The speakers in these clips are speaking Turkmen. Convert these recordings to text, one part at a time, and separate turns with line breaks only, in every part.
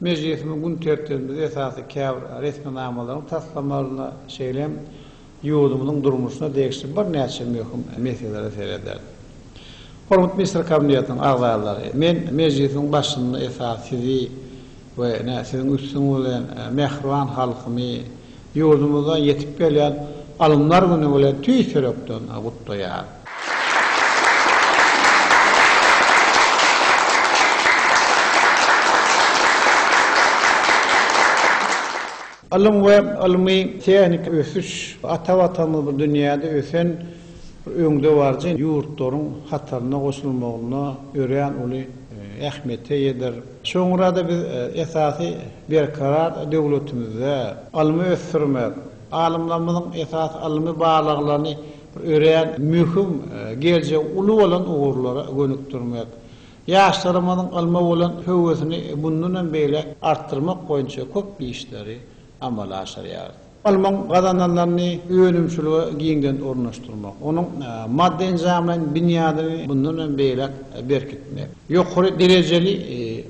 Mejlisimiň gün tertibimize esasy käbir resminamalaryň taslamalaryna, şeýle hem ýurdumyzyň durmuşyna degişli birnäçe möhüm meselelere serederis. Hormatly Ministr Kabinetiniň agzalary, men Mejlisiň başynda esasy sizi we ine, siziň üstüňiz bilen mähriban halkymy Ýurdumyzda ýetip gelýän Alymlar güni bilen tüýs ýürekden gutlaýar. Ylym we ylmy tehniki ösüş ata Watanymyzy dünýäde ösen öňdebaryjy ýurtlaryň hataryna goşulmagynda örän uly ähmiýete eýedir. Soňra-da biz esasy Berkarar döwletimizde ylmy ösdürmek, alymlarymyzyň esasy ylmy barlaglaryny bir örän möhüm, geljegi uly bolan ugurlara gönükdirmek, ýaşlarymyzyň ylma bolan höwesini mundan hem beýläk artdyrmak boýunça köp işleri amala aşyrýarys. Ylmyň gazananlaryny önümçilige giňden ornaşdyrmak, onuň maddy-enjamlaýyn binýadyny mundan hem beýläk berkitmek, ýokary derejeli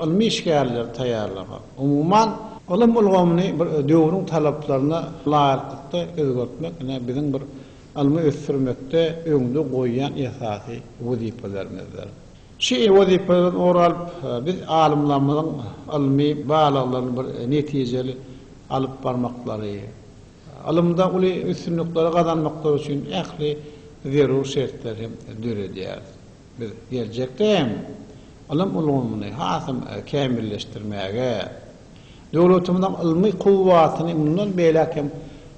ylmy işgärleri taýýarlamak, umuman, ylym ulgamyny bir döwrüň talaplaryna laýyklykda özgertmek, ine, biziň bir ylmy ösdürmekde öňde goýýan esasy wezipelerimizdir. Şu wezipeden ugur alyp, biz alymlarymyzyň ylmy barlaglaryny bir netijeli alyp barmaklary, ylymda uly üstünlikleri gazanmaklary üçin ähli zerur şertleri hem döredýäris. Biz geljekde hem ylym ulgamyny hasam kämilleşdirmäge, döwletimiziň ylmy kuwwatyny mundan beýläk hem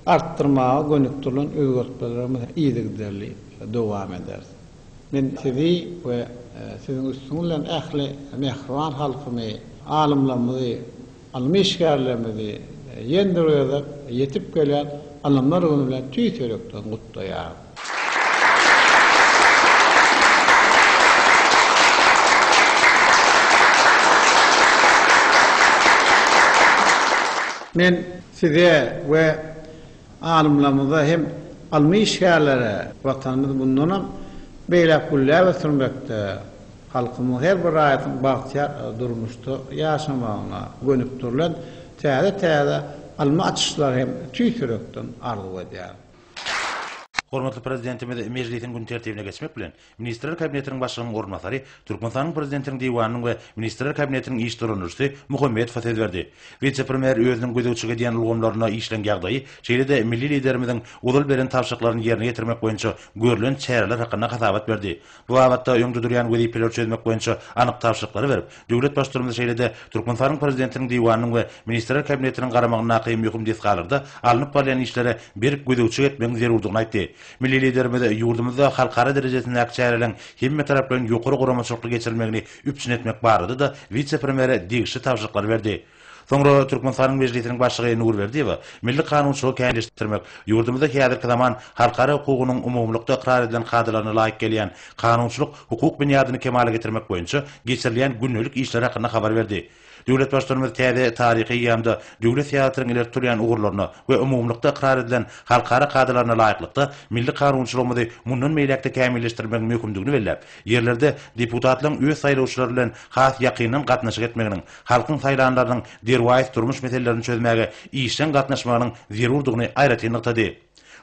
artdyrmaga gönükdirilen özgertmelerimizi yzygiderli dowam ederis. Men sizi we siziň üstüňiz bilen ähli mähriban halkymy, alymlarymyzy, ylmy işgärlerimizi ýene bir gezek ýetip gelen Ylymlar güni bilen tüýs ýürekden gutlaýaryn. Men size we Alymlarymyza hem ylmy işgärlere Watanymyzy mundanam beýläk gülläp ösdürmekde, halkymyzyň her bir raýatynyň bagtyýar durmuşda ýaşamagyna gönükdirilen täze-täze ylmy açyşlary hem tüýs ýürekden arzuw edýärin.
Hormatly Prezidentimiz mejlisiň gün tertibine geçmek bilen, Ministrler Kabinetiniň Başlygynyň orunbasary Türkmenistanyň Prezidentiniň Diwanynyň we Ministrler Kabinetiniň iş dolandyryjysy Muhammedowa söz berdi. Wise-premýer özüniň gözegçilik edýän ulgamlarynda işleň ýagdaýy, şeýle-de milli Liderimiziň ozal beren tabşyryklaryny ýerine ýetirmek boýunça görlen çäreler hakynda hasabat berdi. Bu babatda öňde durýan wezipeleri çözmek boýunça anyk tabşyryklary berip, döwlet Baştutanymyz şeýle-de Türkmenistanyň Prezidentiniň Diwanynyň we Ministrler Kabinetiniň garamagyndaky möhüm desgalarda alnyp barylýan işlere berk gözegçilik etmegiň zerurdygyny aýtdy. Milli Liderimiz ýurdumyzda halkara derejesindäki çäreleriň hemmetaraplaýyn ýokary guramaçylykly geçirilmegini üpjün etmek barada-da wise-premýere degişli tabşyryklary berdi. Soňra Türkmenistanyň Mejlisiniň Başlygy Nurberdiýewa milli kanunçylygy kämilleşdirmek, ýurdumyzda häzirki zaman halkara hukugynyň umumylykda ykrar edilen kadalaryna laýyk gelýän kanunçylyk-hukuk binýadyny kemala getirmek boýunça geçirilýän gündelik işler hakynda habar berdi. Döwlet Baştutanymyz täze taryhy eýýamda döwlet syýasatynyň ileri tutulýan ugurlaryna we umumylykda ykrar edilen halkara kadalaryna laýyklykda, milli kanunçylygymyzy mundan beýläk-de kämilleşdirmegiň möhümdigini belläp, ýerlerde deputatlaryň öz saýlawçylary bilen has ýakyndan gatnaşyk etmeginiň, halkyň saýlanlarynyň derwaýys durmuş meselelerini çözmäge işjeň gatnaşmagynyň zerurdygyny aýratyn nygtady.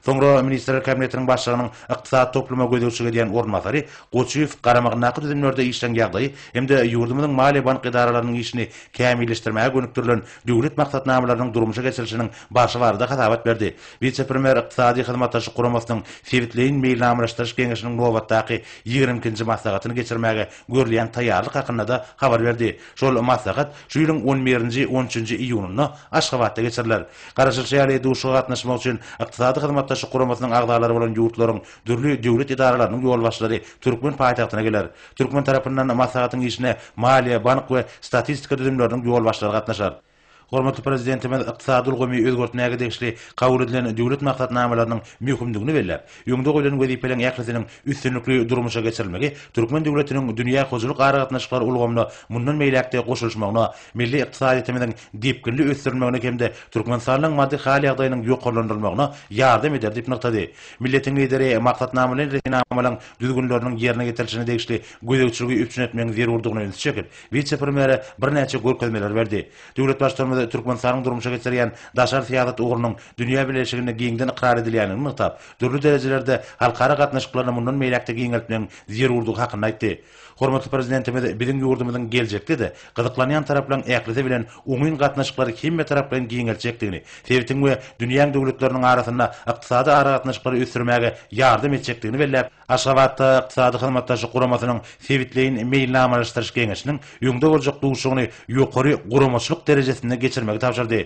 Soňra Ministrler Kabinetiniň Başlygynyň ykdysady topluma gözegçilik edýän orunbasary Goçuýew garamagyndaky düzümlerde işleň ýagdaýy hem-de ýurdumyzyň maliýe-bank edaralarynyň işini kämilleşdirmäge gönükdirilen döwlet maksatnamalarynyň durmuşa geçirilişiniň barşy barada hasabat berdi. Wise-premýer Ykdysady hyzmatdaşlyk guramasynyň sebitleýin meýilnamalaşdyryş geňeşiniň nobatdaky ýigrimi ikinji maslahatyny geçirmäge görülýän taýýarlyk hakynda-da habar berdi. Şol maslahat şu ýylyň on birinji, on üçünji iýunynda Aşgabatda geçiriler. Garaşylyşy ýaly, duşuşyga gatnaşmak üçin Ykdysady Hyzmatdaşlyk Guramasynyň agzalary bolan ýurtlaryň dürli döwlet edaralarynyň ýolbaşçylary türkmen paýtagtyna geler. Türkmen tarapyndan maslahatyň işine maliýe, bank we statistika düzümleriniň ýolbaşçylary gatnaşar. Hormatly Prezidentimiz ykdysady ulgamy özgertmäge degişli kabul edilen döwlet maksatnamalarynyň möhümdigini belläp, öňde goýlan wezipeleriň ählisiniň üstünlikli durmuşa geçirilmegi türkmen döwletiniň dünýä hojalyk aragatnaşyklary ulgamyna mundan beýläk-de goşulyşmagyna, milli ykdysadyýetimiziň depginli ösdürilmegine hem-de Türkmenistanyň maddy hal-ýagdaýynyň ýokarlandyrylmagyna ýardam eder diýip nygtady. Milletiň Lideri maksatnamalaýyn resminamalaryň düzgünleriniň ýerine getirilişine degişli gözegçiligi üpjün etmegiň zerurdygyna ünsi çekip, Wise-premýere birnäçe görkezmeleri berdi. Döwlet Baştutanymyz Türkmenistanyň durmuşa geçirýän daşary syýasat ugrunyň dünýä bileleşiginde giňden ykrar edilýändigini nygtap, dürli derejelerde halkara gatnaşyklaryny mundan beýläk-de giňeltmegiň zerurdygy hakynda aýtdy. Hormatly Prezidentimiz biziň ýurdumyzyň geljekde-de gyzyklanýan taraplaryň ählisi bilen oňyn gatnaşyklary hemmetaraplaýyn giňeltjekdigini, sebitiň we dünýäň döwletleriniň arasynda ykdysady aragatnaşyklary ösdürmäge ýardam etjekdigini belläp, Aşgabatda Ykdysady Hyzmatdaşlyk Guramasynyň Sebitleýin meýilnamalaşdyryş geňeşiniň öňde boljak duşugyny ýokary guramaçylyk derejesinde geçirmegi tabşyrdy.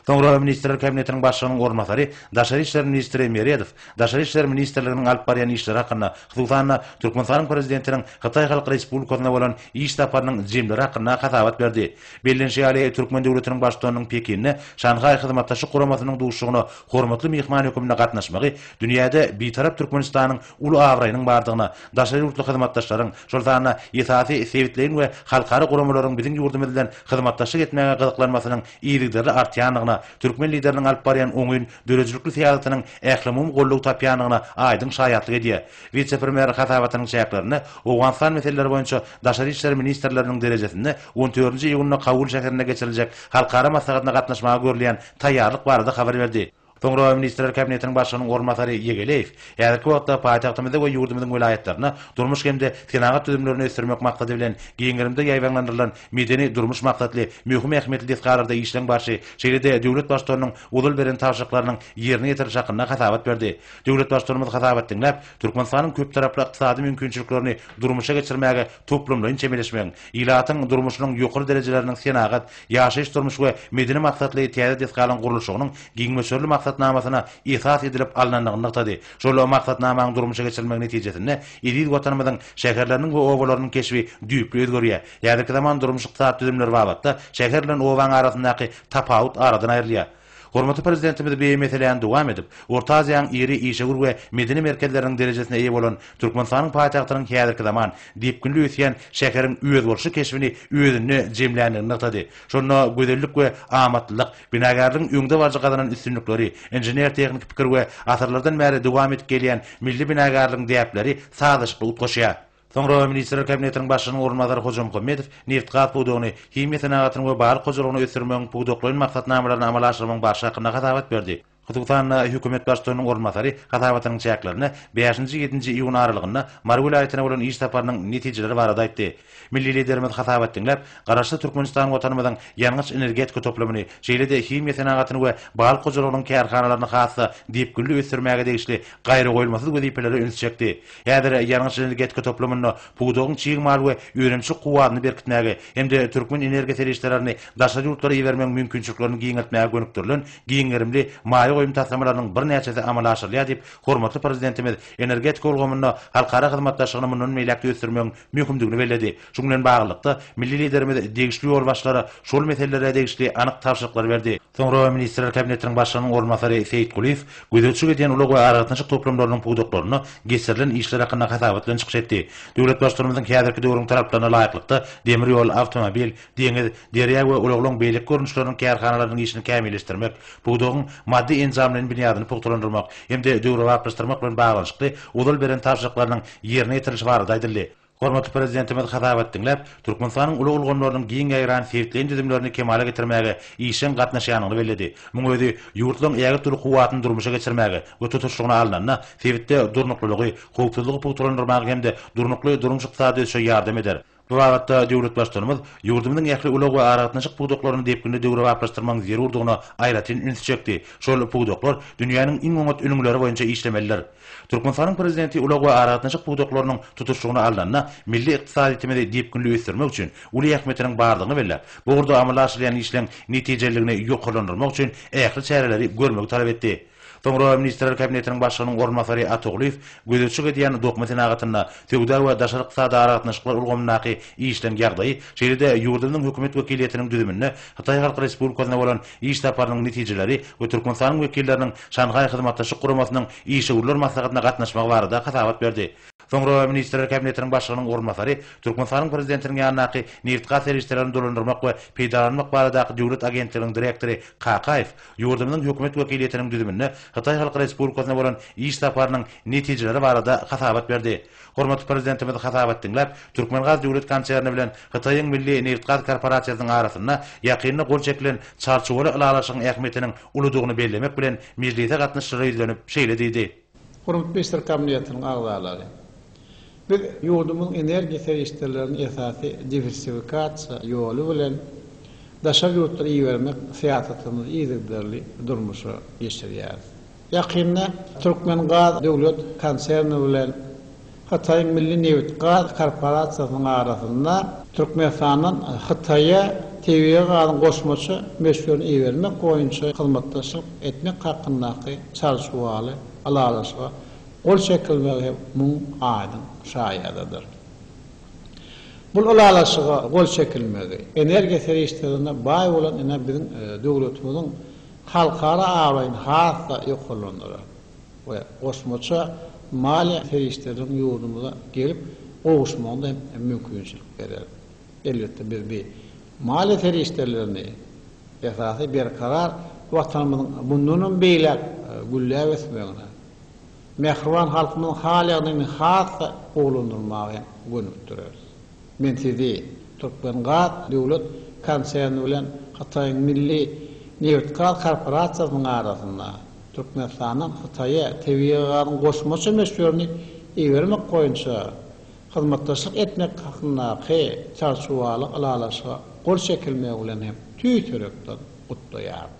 Soňra Ministrler Kabinetiniň Başlygynyň orunbasary, daşary işler ministri Meredow Daşary işler ministrliginiň alyp barýan işleri hakynda, hususan-da, Türkmenistanyň Prezidentiniň Hytaý Halk Respublikasyna bolan iş saparynyň jemleri hakynda hasabat berdi. Bellenişi ýaly, türkmen döwletiniň Baştutanynyň Pekinde Şanhaý Hyzmatdaşlyk Guramasynyň duşugyna hormatly myhman höküminde gatnaşmagy dünýäde Bitarap Türkmenistanyň uly abraýynyň bardygyna, daşary ýurtly hyzmatdaşlaryň, şol sanda esasy sebitleýin we halkara guramalaryň biziň ýurdumyz bilen hyzmatdaşlyk etmäge gyzyklanmasynyň yzygiderli artýandygyna, türkmen Lideriniň alyp barýan oňyn, döredijilikli syýasatynyň ählumumy goldaw tapýandygyna aýdyň şaýatlyk edýär. Wise-premýer hasabatynyň çäklerinde Owganystan meseleleri boýunça daşary işler ministrleriniň derejesinde on dördünji iýunda Kabul şäherinde geçiriljek halkara maslahatyna gatnaşmaga görülýän taýýarlyk barada habar berdi. Soňra Ministrler Kabinetiniň Başlygynyň orunbasary Ýegeleýew häzirki wagtda paýtagtymyzda we ýurdumyzyň welaýatlarynda durmuş hem-de senagat düzümlerini ösdürmek maksady bilen giň gerimde ýaýbaňlandyrylan medeni-durmuş maksatly möhüm ähmiýetli desgalarda işleň barşy, şeýle-de döwlet Baştutanynyň ozal beren tabşyryklarynyň ýerine ýetiriliş hakynda hasabat berdi. Döwlet Baştutanymyz hasabat diňläp, Türkmenistanyň köptaraply ykdysady mümkinçiliklerini durmuşa geçirmäge toplumlaýyn çemeleşmegiň, ilatyň durmuşynyň ýokary derejeleriniň senagat, ýaşaýyş-durmuş we medeni maksatly täze desgalaryň gurluşygynyň giňmöçberli maksatnamasyna esas edilip alnandygyny nygtady. Şol maksatnamanyň durmuşa geçirilmegi netijesinde eziz Watanymyzyň şäherleriniň we obalarynyň keşbi düýpli özgerýär. Häzirki zaman durmuş-ykdysady düzümleri babatda şäher bilen obanyň arasyndaky tapawut aradan aýrylýar. Hormatly Prezidentimiz bi meseläni dowam edip, Orta Aziýanyň iri işewür we medeni merkezleriniň derejesine eýe bolan Türkmenistanyň paýtagtynyň häzirki zaman, depginli ösýän şäheriň özboluşly keşbini özünde jemländigini nygtady, şonda gözellik we amatlylyk, binagärligiň öňde baryjy gazanan üstünlikleri, inžener-tehniki pikir we asyrlardan bäri dowam edip gelýän milli binagärligiň däpleri sazlaşykly utgaşýar. Soňra Ministrler Kabinetiniň Başlygynyň orunbasary Hojamuhammedow nebit-gaz pudagyny, himiýa senagatyny we balyk hojalygyny ösdürmegiň pudaklaýyn maksatnamalaryny amala aşyrmagyň barşy hakynda hasabat berdi. Hususan-da, hökümet baştutanynyň orunbasary hasabatynyň çäklerinde bäşinji, ýedinji iýun aralygynda Mary welaýatyna bolan iş saparynyň netijeleri barada aýtdy. Milli Liderimiz hasabat diňläp, Garaşsyz Türkmenistan Watanymyzyň ýangyç-energetika toplumyny, şeýle-de himiýa senagatyny we balyk hojalygynyň kärhanalaryny has-da depginli ösdürmäge degişli gaýragoýulmasyz wezipelere ünsi çekdi. Häzir ýangyç energetika toplumynda pudagyň çig mal we önümçilik kuwwatyny berkitmäge hem-de türkmen energiýa serişdelerini daşary ýurtlara ibermegiň mümkinçiliklerini giňeltmäge gönükdirilen giň gerimli maýa goýum taslamalarynyň birnäçesi amala aşyrylýar diýip, hormatly Prezidentimiz energetika ulgamynda halkara hyzmatdaşlygyny mundan beýläk-de ösdürmegiň möhümdigini belledi. Şunuň bilen baglylykda, milli Liderimiz degişli ýolbaşçylara şol meselelere degişli anyk tabşyryklar berdi. Soňra Ministrler Kabinetiniň Başlygynyň orunbasary Seýit Kulyýew gözegçilik edýän ulag we aragatnaşyk toplumlarynyň pudaklarynda geçirilen işler hakynda hasabat bilen çykyş etdi. Döwlet Baştutanymyzyň häzirki döwrüň talaplaryna laýyklykda demir ýol, awtomobil, deňiz, derýa we ulaglaryň beýleki görnüşleriniň kärhanalarynyň işini kämilleşdirmek, pudagyň maddy-enjamlaýyn binýadyny pugtalandyrmak hem-de döwrebaplaşdyrmak bilen baglanyşykly ozal beren tabşyryklarynyň ýerine ýetirilişi barada aýdyldy. Hormatly Prezidentimiz hasabat diňläp, Türkmenistanyň ulag ulgamlarynyň giň ýaýran sebitleýin düzümlerini kemala getirmäge işjeň gatnaşýanyny belledi. Muň özi ýurtlaryň ägirt uly kuwwatyny durmuşa geçirmäge we tutuşlygyna alnanda, sebitde durnuklylygy, howpsuzlygy pugtalandyrmaga hem-de durnukly durmuş-ykdysady ösüşe ýardam eder. Bu babatda döwlet Baştutanymyz ýurdumyzyň ähli ulag we aragatnaşyk pudaklaryny depginli döwrebaplaşdyrmagyň zerurdygyna aýratyn ünsi çekdi, Şol pudaklar dünýäniň iň oňat ülňüleri boýunça işlemelidir. Türkmenistanyň Prezidenti ulag we aragatnaşyk pudaklarynyň tutuşlygyny alnanda, milli ykdysadyýetimizi depginli ösdürmek üçin uly ähmiýetiniň bardygyny belläp, bu ugurda amala aşyrylýan işleň netijeliligini ýokarlandyrmak üçin ähli çäreleri görmegi talap etdi. Soňra Ministrler Kabinetiniň Başlygynyň orunbasary Atoglyýew gözegçilik edýän dokma senagatynda söwda we daşary ykdysady aragatnaşyklar ulgamyndaky işleň ýagdaýy, şeýle-de ýurdumyzyň Hökümet wekiliýetiniň düzüminde Hytaý Halk Respublikasyna bolan Iş saparynyň netijeleri we Türkmenistanyň wekilleriniň Şanhaý Hyzmatdaşlyk Guramasynyň işewürler maslahatyna gatnaşmagy barada hasabat berdi. Soňra Ministrler Kabinetiniň Başlygynyň orunbasary Türkmenistanyň Prezidentiniň ýanyndaky Nebitgaz serişdelerini dolandyrmak we peýdalanmak baradaky döwlet agentliginiň direktory Kakaýew ýurdumyzyň Hökümet wekiliýetiniň düzüminde Hytaý Halk Respublikasyna bolan iş saparynyň netijeleri barada hasabat berdi. Hormatly Prezidentimiz hasabat diňläp, Türkmengaz döwlet konserni bilen Hytaýyň Milli nebitgaz korporasiýasynyň arasynda ýakynda gol çekilen Çarçuwaly ylalaşygyň ähmiýetiniň uludygyny bellemek bilen, mejlise gatnaşyjylara ýüzlenip, şeýle diýdi. Hormatly Ministrler
Kabinetiniň agzalary! Biz ýurdumyzyň energiýa serişdelerini esasy diwersifikasiýa ýoly bilen daşary ýurtlara ibermek syýasatymyzy yzygiderli durmuşa geçirýäris. Ýakynda Türkmengaz döwlet konserni bilen Hytaýyň Milli nebit-gaz korporasiýasynyň arasynda Türkmenistandan Hytaýa tebigy gazyň goşmaça möçberini ibermek boýunça hyzmatdaşlyk etmek hakyndaky çalşuwaly ylalaşyga gol çekilmegi hem muň aýdyň şaýadydyr. Bul ylalaşyga gol çekilmegi energiýa serişdelerine baý bolan ine biziň döwletimiziň halkara abraýyny has-da ýokarlandyrar we goşmaça maliýe serişdeleriniň ýurdumyza gelip gowuşmagyna hem mümkinçilik berer. Elbetde, biz bu maliýe serişdelerini esasy berkarar Watanymyzyň mundanam beýläk gülläp ösmegine, Mähriban halkymyzyň hal-ýagdaýyny has-da gowulandyrmaga hem gönükdireris. Men sizi Türkmengaz döwlet konserni bilen Hytaýyň Milli nebitgaz korporasiýasynyň arasynda Türkmenistandan Hytaýa tebigy gazyň goşmaça möçberini ibermek boýunça hyzmatdaşlyk etmek hakyndaky Çarçuwaly ylalaşyga gol çekilmegi bilen hem tüýs ýürekden gutlaýaryn.